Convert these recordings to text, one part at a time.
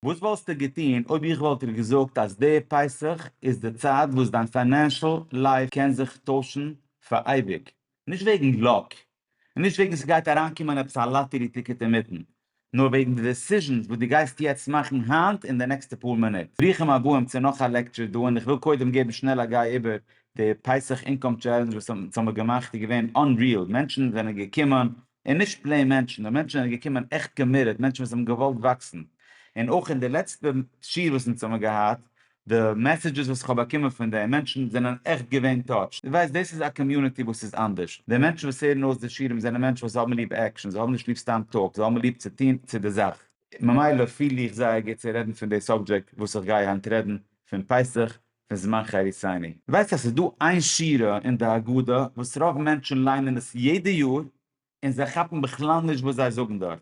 וואס וואלסטו געטון אויב איך וואלט דיר געזאגט אז די פסח איז די צייט וואס דיין פיינענשעל לייף קען זיך טוישן פאר אייביג? נישט וועגן לאק, און נישט וועגן ס'גייט אריינקומען עפעס א לאטערי טיקעט אינמיטן, נאר וועגן די דעסיזשענס וואס דו גייסט יעצט מאכן היינט אין די נעקסטע פאר מינוט. ברוכים הבאים צו נאך א לעקטשור דא, און איך וויל קודם געבן שנעל א גיי איבער די פסח אינקאם טשעלענדזש וואס האבן געמאכט, איז געווען אנריעל, מענטשן זענען געקומען און נישט פלעין מענטשן, נאר מענטשן זענען געקומען עכט קאמיטעד, מענטשן וואס האבן געוואלט וואקסן, און אויך אין די לעצטע שיעור וואס אונז האבן געהאט, די מעסעדזשעס וואס כ'האב באקומען פון דעם, מענטשן זענען עכט געווען טאטשד, דו ווייסט דאס איז א קאמיוניטי וואס איז אנדערש, די מענטשן וואס הערן אויס די שיעורים זענען מענטשן וואס האבן ליב עקשן, זיי האבן נישט ליב סתם טאלק, זיי האבן ליב צו טון צו די זאך. ממילא פיל איך זייער גוט צו רעדן פון די סאבדזשעקט וואס איך גיי היינט רעדן, פון פסח, פון זמן חריתנו. ווייסט אז ס'איז דא איין שורה אין די הגדה וואס רוב מענטשן ליינען עס יעדע יאר און זיי כאפן בכלל נישט וואס זיי זאגן דארט,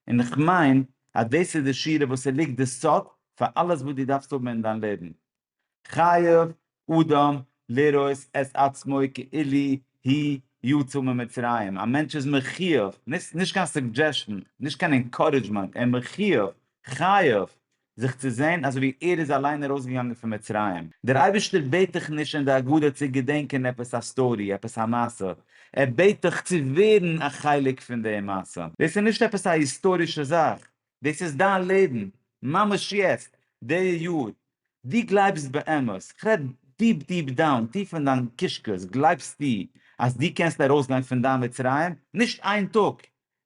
און איך מיין אז דאס איז די שורה וואס ס'ליגט די סוד פאר אלעס וואס דו דארפסט האבן אין דיין לעבן, חייב אדם לראות את עצמו כאילו הוא יצא ממצרים, א מענטש איז מחיוב, נישט קיין סוגדזשעשאן, נישט קיין אינקארעדזשמענט, ער איז מחיוב, חייב, זיך צו זען אזוי ווי ער איז אליין ארויסגעגאנגען פון מצרים. דער אייבערשטער בעט דיך נישט אין די הגדה צו געדענקען עפעס א סטארי, עפעס א מעשה, ער בעט דיך צו ווערן א חלק פון די מעשה. דאס איז נישט עפעס א היסטארישע זאך, דאס איז דיין לעבן, ממש יעצט, די יאר, דו גלייבסט באמת, כ'רעד דיפ דיפ דאון, טיף אין דיין קישקעס, גלייבסטו אז דו קענסט ארויסגיין פון דיין מצרים, נישט איין טאג,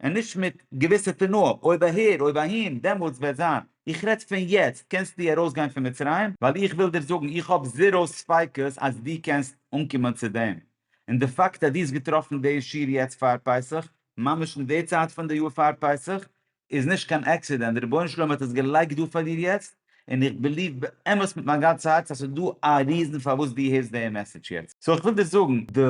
און נישט מיט געוויסע תנאים, אויב אהער, אויב אהין, דעמאלטס וועט זיין, איך רעד פון יעצט, קענסטו ארויסגיין פון מצרים, ווייל איך וויל דיר זאגן, איך האב זיראו ספיקות אז דו קענסט אנקומען צו דעם, און די פאקט אז דו האסט געטראפן די שיר יעצט פאר פסח, ממש אין די צייט פון די יאר פאר פסח איז נישט קיין עקסידענט, די רבונו של עולם האט עס געלייגט דא פאר דיר יעצט, און איך בעליוו באמת מיט מיין גאנצע הארץ אז ס'איז דא א ריזן פארוואס דו הערסט די מעסעדזש יעצט. סאו איך וויל דיר זאגן די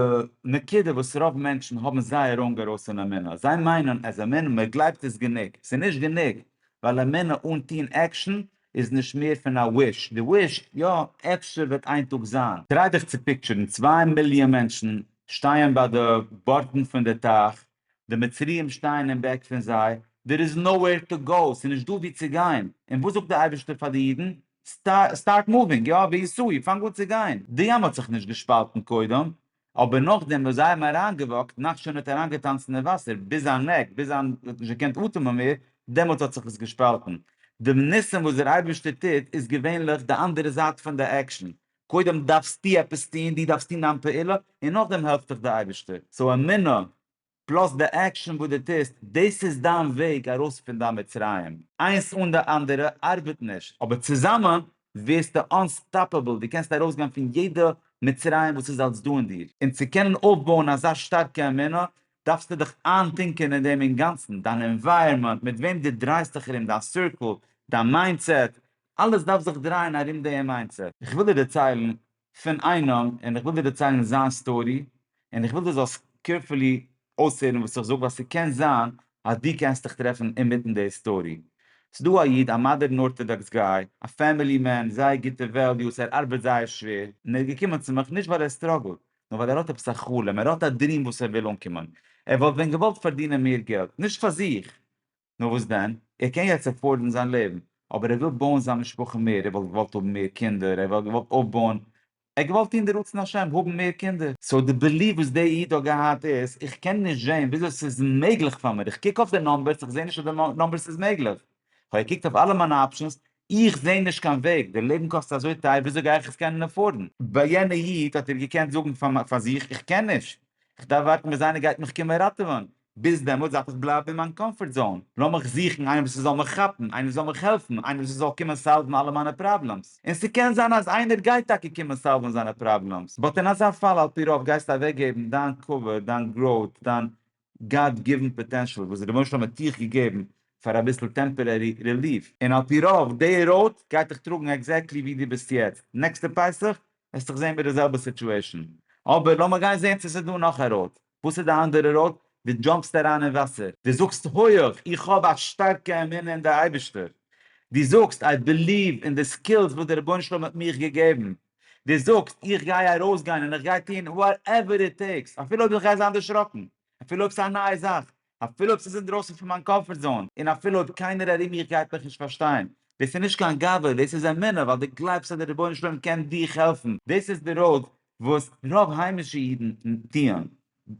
נקודה וואס רוב מענטשן האבן זייער ראנג ארויס אין אמונה, זיי מיינען אז אמונה, מ'גלייבט איז גענוג, ס'איז נישט גענוג, ווייל אמונה אן טון עקשן איז נישט מער פון א וויש, דו ווישט, יא, אפשר וועט איין טאג זיין. טריי דיך צו פיקטשערן, צוויי מיליאן מענטשן שטייען ביי די בארטן פון די טייך, די מצריים שטייען אין בעק פון זיי, דער איז נאו וועיר טו גאו, ס'איז נישט דא וואו צו גיין, און וואס זאגט דער אייבערשטער פאר די אידן, סטארט מאווינג, יא, ווי עיסאו, פאנג אן צו גיין, די ים האט זיך נישט געשפאלטן קודם, אבער נאכדעם וואס זיי האבן אריינגעוואקט, נחשון האט אריינגעטאנצן אין וואסער ביז זיין נעק, ביז זיין ער האט נישט געקענט אטעמען מער, דעמאלט האט זיך עס געשפאלטן. די ניסים וואס דער אייבערשטער טוט איז געווענליך די אנדערע זייט פון די עקשאן, קודם דארפסטו עפעס טון, דו דארפסט טון דיין פעולה, און נאכדעם העלפט דיך דער אייבערשטער. סאו אמונה פלאס די עקשאן וואס דו טוסט, דאס איז דיין וועג ארויס פון דיין מצרים, איינס אן די אנדערע ארבעט נישט, אבער צוזאמען ווערסטו אנסטאפעבל, דו קענסט ארויסגיין פון יעדע מצרים וואס איז אלס דא אין דיר. און צו קענען אויפבויען אזא שטארקע אמונה, דארפסטו דיך איינטונקען אין דעם אינגאנצן, דיין ענווייראמענט, מיט וועם דו דרייסט דיך ארום, דיין סירקל, דיין מיינדסעט, אלעס דארף זיך דרייען ארום דעם מיינדסעט. איך וויל דיר דערציילן פון איינעם און איך וויל דיר דערציילן זיין סטארי און איך וויל דו זאלסט קערפולי אויסהערן וואס איך זאג ווייל ס'קען זיין אז דו קענסט דיך טרעפן אינמיטן די סטארי. ס'דא א איד א מאדערן ארטאדאקס גאי, א פעמילי מען, זייער גוטע וועליוס, ער ארבעט זייער שווער און ער איז געקומען צו מיך נישט ווייל ער סטראגלט נאר ווייל ער האט עפעס א חלום, ער האט א דריעם וואס ער וויל אנקומען, ער וואלט ווען געוואלט פארדינען מער געלט, נישט פאר זיך נאר וואס דען? ער קען יעצט עפארדן זיין לעבן, אבער ער וויל בויען זיין משפחה מער, ער וואלט געוואלט האבן מער קינדער, ער וואלט געוואלט אויפבויען, ער האט געוואלט טון די רצון השם, האבן מער קינדער. סאו די ביליוו וואס דער איד האט געהאט איז, איך קען נישט זען וויאזוי ס'איז מעגליך פאר מיר, איך קוק אויף די נאמבערס, איך זע נישט אז די נאמבערס איז מעגליך, כ'האב געקוקט אויף אלע מיינע אפשענס, איך זע נישט קיין וועג, די לעבן קאסט אזוי טייער, וויאזוי גיי איך עס קענען עפארדן? ביי יענע איד האט ער געקענט זאגן פאר זיך, איך קען נישט, איך דארף ווארטן ביז איינער גייט מיך קומען ראטעווען, ביז דעמאלטס דארף איך בלייבן אין מיין קאמפארט זאון, לאמיך זוכן איינעם וואס זאל מיך כאפן, איינעם וואס זאל מיך העלפן, איינעם וואס זאל קומען סאלוון אלע מיינע פראבלעמס, און ס'קען זיין אז איינער גייט טאקע קומען סאלוון זיינע פראבלעמס, באט אין אזא פאל על פי רוב גייסטו אוועקגעבן דיין קאווע, דיין גראוט, דיין גאד גיוון פאטענשעל וואס דער רבונו של עולם האט דיך געגעבן פאר אביסל טעמפערערי רעליף, און על פי רוב די ראוט גייט דיך טראגן עקזעקטלי ווי דו ביסט יעצט, נעקסטע פסח וועסטוך זען מיט די זעלבע סיטועשאן, אבער לאמיך גיין זען צו ס'איז דא נאך א ראוט. וואס איז די אנדערע ראוד? דו דזשאמפסט אריין אין וואסער, דו זאגסט הויעך איך האב א שטארקע אמונה אין די אייבישטער, דו זאגסט איי בעליוו אין די סקילס וואס דער רבונו של עולם האט מיך געגעבן, דו זאגסט איך גיי ארויסגיין און איך גיי טון וואטעווער איט טעיקס אפילו אויב איך גיי זיין דערשראקן, אפילו אויב ס'איז א נייע זאך, אפילו אויב ס'איז אינדרויסן פון מיין קאמפארט זאון, און אפילו אויב קיינער ארום מיך גייט מיך נישט פארשטיין. דאס איז נישט קיין גאווה, דאס איז אמונה, ווייל דו גלייבסט אז דער רבונו של עולם קען דיך העלפן. דאס איז די ראוד וואס רוב היימישע אידן טוען.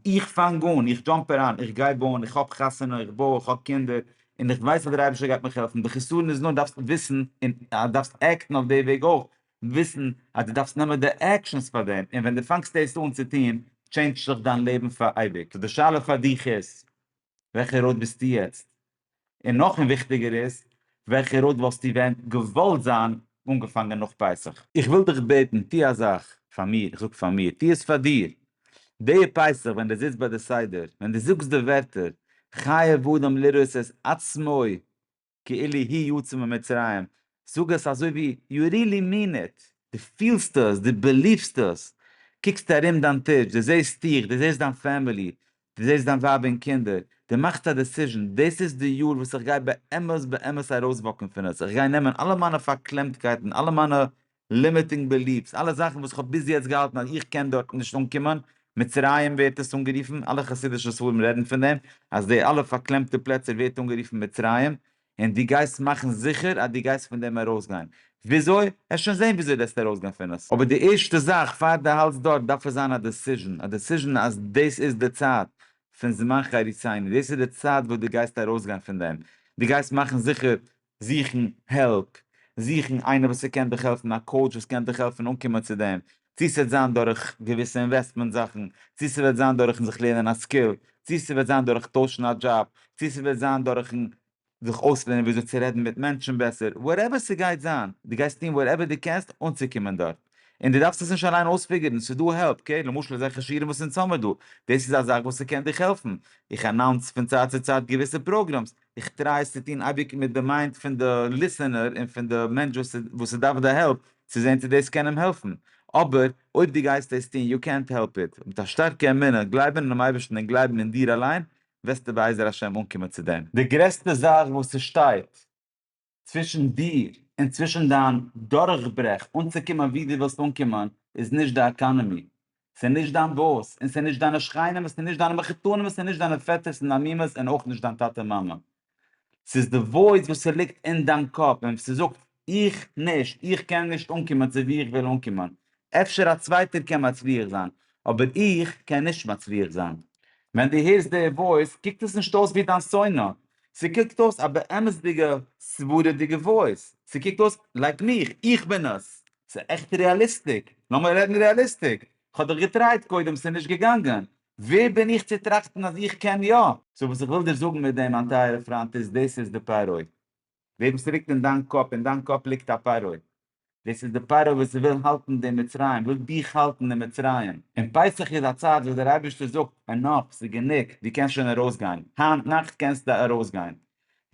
איך פאנג אן, איך דזשאמפ אריין, איך געב אן, איך האב חתונה, איך בוי, איך האב קינדער, און איך ווייס אז דער אייבערשטער גייט מיך העלפן. די חיסרון איז נאר דארפסט וויסן און דארפסט עקטן אויף די וועג אויך, וויסן אז דו דארפסט נעמען די עקשאנס פאר דעם, און ווען דו פאנגסט דאס אן צו טון, טשעינדזשט זיך דיין לעבן פאר אייביג. סאו די שאלה פאר דיך איז, וועלכע ראוד ביסטו יעצט? און נאך און וויכטיגער איז, וועלכע ראוד וואלסטו ווען געוואלט זיין אנגעפאנגען נאך פסח? איך וויל דיך בעטן, טו א זאך פאר מיר, איך זאג פאר מיר, טו עס פאר דיר. די פסח ווען דו זיצט ביי די סדר, ווען דו זאגסט די ווערטער, חייב אדם לראות את עצמו, כאילי הי' יצא ממצרים, זאג עס אזוי ווי יו רילי מין איט, דו פילסט עס, דו בעליוו'סט עס, קוקסט ארום דיין טיש, דו זעהסט דיך, דו זעהסט דיין פעמילי, דו זעהסט דיין ווייב און קינדער, דו מאכסט א דעסיזשען, דאס איז די יאר וואס איך גיי באמת באמת ארויסוואקן פון עס, איך גיי נעמען אלע מיינע פארקלעמטקייטן, אלע מיינע לימיטינג בעליף'ס, אלע זאכן וואס כ'האב ביז יעצט געהאלטן אז איך קען דארט נישט אנקומען, מצרים ווערט עס אנגערופן, אלע חסידישע ספרים רעדן פון דעם, אז די אלע פארקלעמטע פלעצער ווערט אנגערופן מצרים, און דו גייסט מאכן זיכער אז דו גייסט פון דעם ארויסגיין. וויאזוי? וועסט שוין זען וויאזוי דארפסטו ארויסגיין פון עס. אבער די ערשטע זאך פאר דו האלטסט דארט דארף עס זיין א דעסיזשן, א דעסיזשן אז דאס איז די צייט פון זמן חריצינו, דאס איז די צייט וואס דו גייסט ארויסגיין פון דעם, דו גייסט מאכן זיכער זוכן העלפ, זוכן איינער וואס ס'קען דיך העלפן, א קאוטש וואס קען דיך העלפן אנקומען צו דעם, צו ס'וועט זיין דורך געוויסע אינוועסטמענט זאכן, צו ס'וועט זיין דורכן זיך לערנען א סקיל, צו ס'וועט זיין דורך טוישן א דזשאב, צו ס'וועט זיין דורכן זיך אויסלערנען וויאזוי צו רעדן מיט מענטשן בעסער, וואטעווער ס'גייט זיין, דו גייסט טון וואטעווער דו קענסט אנצוקומען דארט, און דו דארפסט עס נישט אליין אויספיגערן, ס'איז דא העלפ, אקעי, למשל אזעלכע שיעורים וואס אונז האמיר דא, דאס איז א זאך וואס ס'קען דיך העלפן, איך אנאונס פון צייט צו צייט געוויסע פראגרעמס, איך טריי עס צו טון אייביג מיט די מיינד פון די ליסענער און פון די מענטש וואס עס דארף די העלפ צו זען צו דאס קען אים העלפן, אבער אויב דו גייסט דאס טון יו קענט העלפ איט, מיט א שטארקע אמונה, גלייבן אינעם אייבערשטן און גלייבן אין דיר אליין, וועסטו בעזר השם אנקומען צו דעם. די גרעסטע זאך וואס עס שטייט. צווישן דיר און צווישן דיין דורכברעך אנצוקומען ווי דו ווילסט אנקומען איז נישט די עקאנעמי, ס'איז נישט דיין באס, און ס'איז נישט דיינע שכנים, ס'איז נישט דיינע מחותנים, ס'איז נישט דיינע פעטערס און דיין מומעס און אויך נישט דיין טאטע מאמע. ס'איז די וואויס וואס ס'ליגט אין דיין קאפ און ס'זאגט איך נישט, איך קען נישט אנקומען צו ווי איך וויל אנקומען, אפשר א צווייטער קען מצליח זיין, אבער איך קען נישט מצליח זיין. ווען דו הערסט די וואויס קוקט עס נישט אויס ווי דיין שונא, ס'קוקט אויס א באמת'דיגע סברא'דיגע וואויס, ס'קוקט אויס לייק מיך, איך בין עס. ס'עכט רעאליסטיק, לאמיר רעדן רעאליסטיק, כ'האב דאך געטרייט קודם ס'נישט געגאנגען, ווער בין איך צו טראכטן אז איך קען יא? סאו וואס איך וויל דיר זאגן מיט דעם מיין טייערע פריינט איז דאס איז די פערוי, די וואס ליגט אין דיין קאפ, אין דיין קאפ ליגט א פרעה, דאס איז די פרעה וואס וויל האלטן די מצרים, וויל דיך האלטן אין מצרים, און פסח איז א צייט וואס דער אייבערשטער זאגט ענאף, ס'איז גענוג, דו קענסט שוין ארויס גיין, היינט נאכט קענסטו ארויס גיין,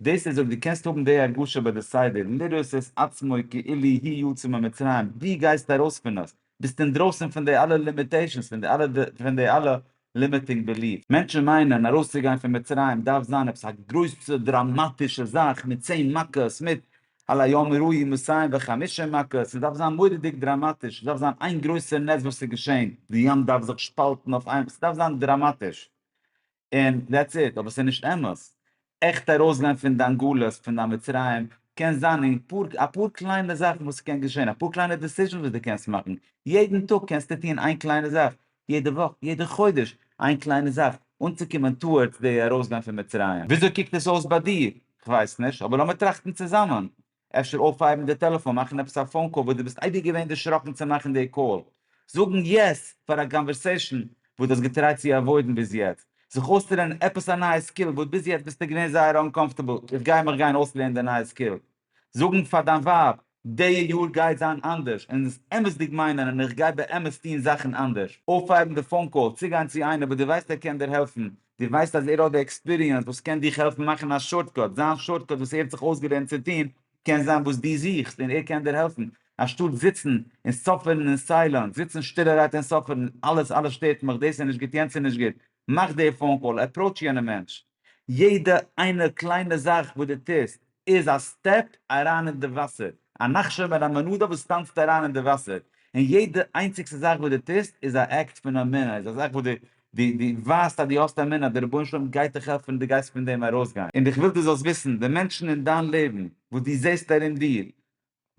דאס איז אויב דו קענסט האבן די הרגשה ביי די סדר, לראות את עצמו כאילו הי' יצא ממצרים, דו גייסט ארויס פון עס, ביסט אינדרויסן פון די אלע לימיטעישאנס, פון די אלע פון די אלע לימיטינג בעליף'ס. מענטשן מיינען ארויסצוגיין פון מצרים דארף זיין עפעס א גרויסע דראמאטישע זאך מיט צען מכות, מיט על היום יראו ימסיים וחמישים מכות, ס'דארף זיין מורא'דיג דראמאטיש, ס'דארף זיין איין גרויסע נס וואס איז געשען, די ים דארף זיך שפאלטן אויף איין, ס'דארף זיין דראמאטיש. און דעטס איט, אבער ס'איז נישט אמת. עכט ארויסגיין פון דיין גלות, פון דיין מצרים, קען זיין אין פאר, אפאר קליינע זאכן וואס ס'קען געשען, אפאר קליינע דעסיזשענס וואס דו קענסט מאכן, יעדן טאג קענסטו טון איין קליינע זאך, יעדע וואך, יעדע חודש, איין קליינע זאך, אנצוקומען טאוארדס די ארויסגיין פון מצרים. וויאזוי קוקט עס אויס ביי דיר? כ'ווייס נישט, אבער לאמיר טראכטן צוזאמען. אפשר אויפהייבן די טעלעפאן מאכן עפעס א פאון קאל וואס דו ביסט אייביג געווען דערשראקן צו מאכן די קאל, זאגן יעס פאר א קאנווערסעישן וואס דו האסט געטרייט צו עוואוידן ביז יעצט, זיך אויסצולערנען עפעס א נייע סקיל וואס ביז יעצט ביסטו געווען זייער אנקאמפטעבל, איך גיי מיך גיין אויסלערנען די נייע סקיל, זאגן פאר דיין ווייב די יאר גייט זיין אנדערש און עס אמת'דיג מיינען און איך גיי באמת טון זאכן אנדערש, אויפהייבן די פאון קאל, צוגיין צו איינער וואס דו ווייסט ער קען דיר העלפן, דו ווייסט אז ער האט די עקספיריענס וואס קען דיך העלפן מאכן א שארטקאט, זיין שארטקאט וואס ער האט זיך אויסגעלערנט צו טון קען זיין וואס דו זוכסט און ער קען דיר העלפן, אנשטאט זיצן און סאפערן אין סיילענס, זיצן שטילערהייט און סאפערן, אלעס אלעס שטערט מיך, דאס איז נישט גוט, יענץ איז נישט גוט, מאך די פאון קאל, עפראוטש יענע מענטש, יעדע איינע קליינע זאך וואס דו טוסט, איז א סטעפ אריין אין די וואסער, א נחשון מיט א מנדה וואס טאנצט אריין אין די וואסער, און יעדע איינציגסטע זאך וואס דו טוסט איז א עקט פון אמונה, איז א זאך וואס דו דו דו ווייזט אז דו האסט אמונה אז דער רבונו של עולם גייט דיך העלפן און דו גייסט פון דעם ארויסגיין. און איך וויל דו זאלסט וויסן, די מענטשן אין דיין לעבן וואס דו זעסט ארום דיר,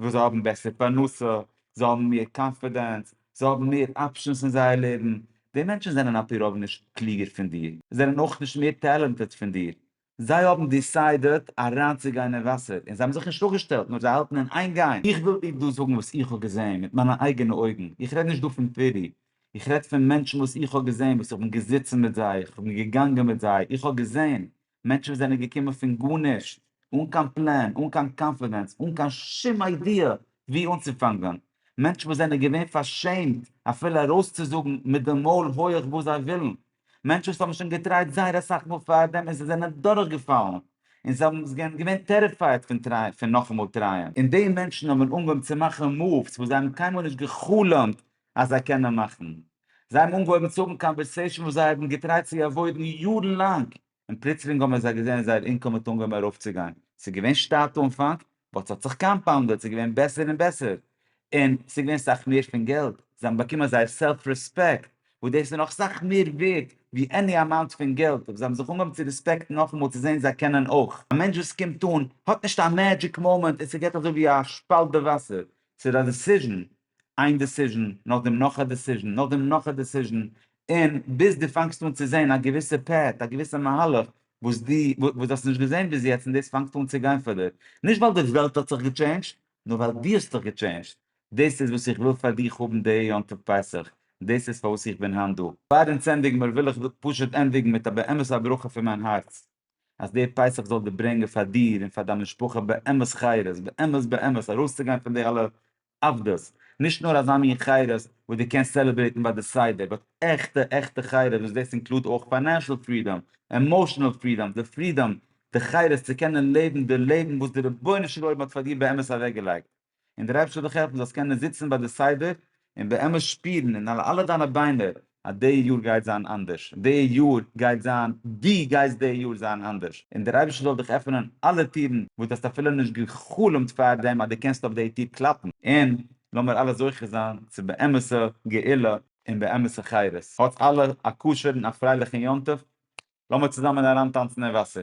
וואס זיי האבן בעסער פרנסה, זיי האבן מער קאנפידענס, זיי האבן מער אפשענס אין זייער לעבן, די מענטשן זענען על פי רוב נישט קלוגער פון דיר, זענען אויך נישט מער טעלענטעד פון דיר, זיי האבן דיסיידעט אריינצוגיין אין וואסער, און זיי האבן זיך נישט אפגעשטעלט, נאר זיי האלטן אין איין גיין. איך וויל דיר דא זאגן וואס איך האב געזען מיט מיינע אייגענע אויגן, איך רעד נישט דא פון פירי, איך רעד פון מענטשן וואס איך האב געזען, וואס איך בין געזיצן מיט זיי, איך בין געגאנגען מיט זיי, איך האב געזען מענטשן וואס זענען געקומען פון גארנישט, אן קיין פלען, אן קיין קאנפידענס, אן קיין שום איידיע וואו אנצופאנגען, מענטשן וואס זענען געווען פארשעמט אפילו ארויסצוזאגן מיט די מויל הויעך וואס זיי ווילן, מענטשן וואס האבן שוין געטרייט זייער אסאך מאל פאר דעם און זיי זענען דורך געפאלן און זיי האבן זענען געווען טעריפייעד פון טרייען פון נאכאמאל טרייען און די מענטשן האבן אנגעהויבן צו מאכן מאווס וואס זיי האבן קיינמאל נישט גע'חלומ'ט אז זיי קענען מאכן זיי האבן אנגעהויבן צו האבן קאנווערסעישאן וואס זיי האבן געטרייט צו עוואוידן יארן לאנג און פלוצלינג האבן זיי געזען זייער אינקאם האט אנגעהויבן ארויפצוגיין, ס'איז געווען שטייט אנפאנג, באט ס'האט זיך קאמפאונדעד, ס'איז געווען בעסער און בעסער, און ס'איז געווען סאך מער פון געלט, זיי האבן באקומען זייער סעלף רעספעקט, וואס דאס איז נאך סאך מער ווערד ווי עני אמאונט פון געלט, זיי האבן זיך אנגעהויבן צו רעספעקטן נאכאמאל צו זען זיי קענען אויך. א מענטש וואס קומט אן האט נישט א מעדזשיק מאמענט און ס'געט אזוי ווי א שפאלט די וואסער, ס'איז א דעסיזשן, איין דעסיזשן נאך דעם נאך א דעסיזשן נאך דעם נאך א דעסיזשן און ביז דו פאנגסט אן צו זען א געוויסע פעט א געוויסע מהלך וואס דו וואס דו האסט נישט געזען ביז יעצט און דאס פאנגט אן צו גיין פאר דיר נישט ווייל די וועלט האט זיך געטשעינדזשט נאר ווייל דו האסט דיך געטשעינדזשט דאס איז וואס איך וויל פאר דיך האבן די יום טוב פסח דאס איז פארוואס איך בין היינט דא. פאר אונז ענדיגן מיר וויל איך פשוט ענדיגן מיט א באמת א ברכה פון מיין הארץ אז די פסח זאל דיר ברענגען פאר דיר און פאר דיין משפחה באמת חיות באמת באמת ארויסצוגיין פון די אלע עבדות, נישט נאר אזא מין חירות וואס דו קענסט סעלעברעיטן ביי די סדר, באט עכטע עכטע חירות וואס דאס אינקלוד אויך פיינענשעל פרידאם, עמאושענעל פרידאם, די פרידאם, די חירות צו קענען לעבן די לעבן וואס דער רבונו של עולם האט פאר דיר באמת אוועקגעלייגט. און דער אייבערשטער זאל דיך העלפן זאלסט קענען זיצן ביי די סדר און באמת שפירן אין אלע דיינע ביינער אז די יאר גייט זיין אנדערש, די יאר גייט זיין, דו גייסט די יאר זיין אנדערש, און דער אייבערשטער זאל דיך עפענען אלע טירן וואס דו האסט אפילו נישט גע'חלומ'ט פאר דעם אז דו קענסט אויף די טיר קלאפן, און לאמיר אלע זוכה זיין צו באמת'ע גאולה און באמת'ע חירות, האטס אלע א כשר'ן א פרייליכן יום טוב, לאמיר צוזאמען אריינטאנצן אין וואסער.